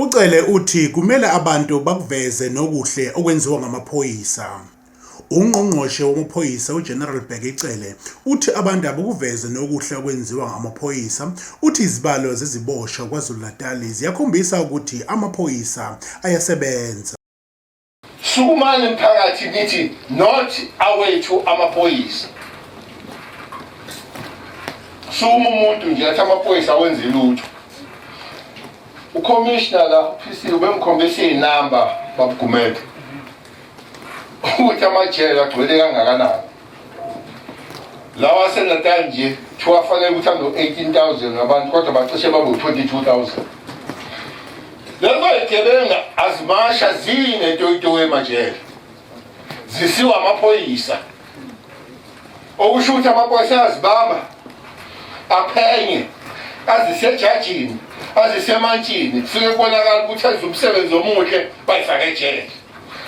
UCele uthi kumele abantu bakuveze nokuhle okwenziwa ngamaphoyisa. UNgqongqoshe wamaPhoyisa uGeneral Bheki Cele uthi abantu abukuveze nokuhle okwenziwa ngamaphoyisa, uthi izibalo zeziboshwa KwaZulu-Natali ziyakhombisa ukuthi amaphoyisa ayasebenza. sukumani mphakathi nithi not awethu amaphoyisa suma umuntu nje athi amaphoyisa awenze lutho ucommissioner la uphisiwe bemkhombisa iy'namba babugumede ukuthi amajele agcwele kangakanani lawa asenatal nje kuthiwa afanele ukuthi ambe 18000 ngabantu kodwa bacishe babe 22000 lezo yigebenga azimasha zinetoyitoyi emajele zisiwa amaphoyisa okusho ukuthi amaphoyisa ayazibamba aphenye azisejajini azisemantshini kufike kubonakala ukuthi enza umsebenzi omuhle bayifake ejele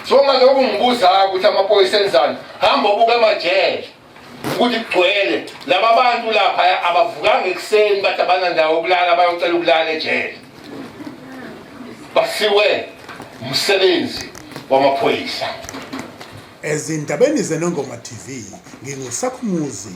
Songalokhu ngibuzayo ukuthi amaphoyisa enzani hamba obuka amajele ukuthi kugcwele laba bantu lapha abavukanga ekuseni bathi abanandawo ukulala bayocela ukulala ejele basiwe umsebenzi wamaphoyisa ezindabeni zenongoma tv ngingusakhumuzi